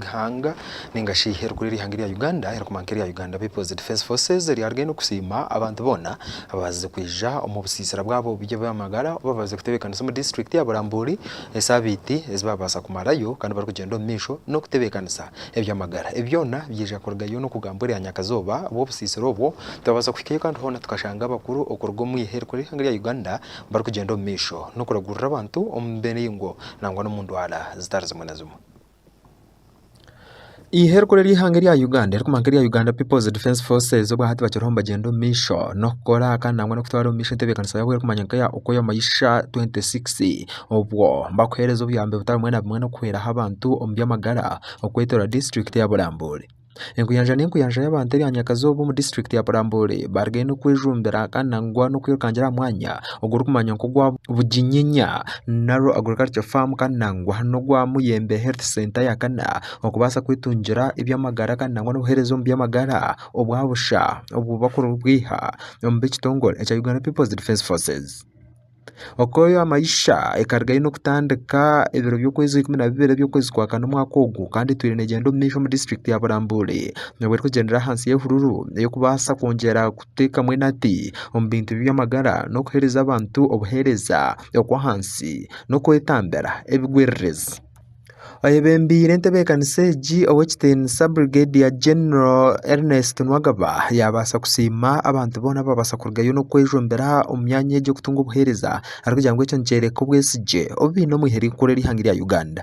ihanga ninga shi erikura eri ihanga erya Uganda erikuma nka erya Uganda People's Defence Forces eryaaba rigenda okusiima abantu boona abaabazize kwija omu busiisira bwabo by'ebyamagara obu baabazize kutebeekanisa omu district ya Burambuuri esaabiiti ezi baabaasa kumarayo kandi barikugyenda omu maisho n'okutebeekanisa ebyamagara. Ebi byona byaija kurugayo n'okugambwa erya nyakazooba bw'obusiisira obwo twabaasa kuhikayo kandi hoona tukashanga abakuru okuruga omu eihe erikura eri ihanga erya Uganda barikugyenda omu maisho n'okuragurira abantu omu miringo nangwa n'omu ndwara zitari zimwe na zimwe. Eihe erikuru ery'eihanga erya Uganda erikumanwa nka erya Uganda People's Defence Forces obwa hati bakiriho nibagyenda omu maisho n'okukora kandi nangwa n'okutwara omu maisho entebeekanisa yaabo erikumanywa nka eya Okoyo Maisha 26 obwo bakuheereza obuyambi butari bumwe na bumwe n'okuhweraho abantu omu by'amagara okwetooroora disiturikiti ya Burambuuri. Enkuyanja n'enkuyanja y'abantu erya Nyakazooba omu disiturikiti ya Burambuuri barigayo n'okwejumbira kandi nangwa n'okwirukangira aha mwanya ogurikumanywa nk'ogwa Buginyenya Narrow Agricultural Farm kandi nangwa n'ogwa Muyembe Health Centre ya kana okubaasa kwetungira eby'amagara kandi nangwa n'obuheereza omu by'amagara obwa busha obu barikubwiha omuri ekitongore ekya Uganda People's Defence Forces. Okoyo amaisha ekaba eine kutandika ebiro by'okwezi ikumi na bibiri eby'okwezi kwa kana omwaka ogu kandi etwire negyenda omu maisho omu disiturikiti ya Burambuuri nabwo erikugyendera ahansi y'ehururu ey'okubaasa kwongyera kuteekamu enati omu bintu by'amagara n'okuheereza abantu obuheereza okw'ahansi n'okwetambira ebigwiririzi. Oyebembire entebeekanisa egi ow'ekitiinisa Brigedia Genero Ernest Nwagaba yaabaasa kusiima abantu boona abaabaasa kurugayo n'okwejombera omu myanya egi okutunga obuheereza arikugira ngu ekyo nikyoreka obwesigye obu baine omwihari rikuru ery'eihanga erya Uganda.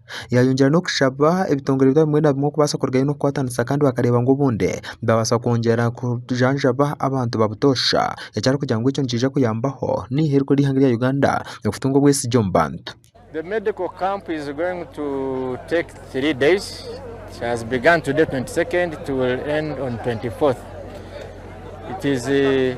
Yaayongyera n'okushaba ebitongore byabo bimwe na bimwe kubaasa kurugayo n'okukwatanisa kandi bakareeba ngu obundi baabaasa kwongyera kujanjaba abantu ba butoosha eki arikugira ngu ekyo nikiija kuyambaho naiha erikuru ry'eihanga rya Uganda okutunga obwesigye omu bantu. The medical camp is going to take three days. It has begun today 22nd, it will end on 24th. It is uh,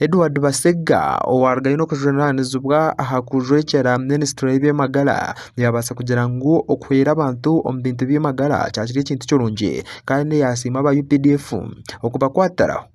Edward Basegga owaaruga aine okujunaanizibwa aha kujwekyera minisitule y'eby'amagara yaabaasa kugira ngu okuhwera abantu omu bintu by'amagara kyakire ekintu kirungi kandi yaasiima aba updf okubakwatiraho.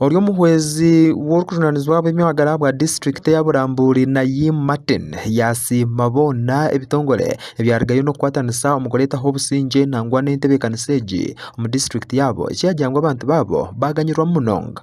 Ori omuhwezi w'orikujunanizibwa ahabw'eby'amagara ahabwa disiturikiti eya Burambuuri Nayim Martin yasiima boona ebitongore ebyarugayo n'okukwatanisa omu kureetaho obusingye nangwa n'entebeekanisa egi omu disiturikiti yaabo ekyagira ngu abantu baabo baganyirwamu munonga.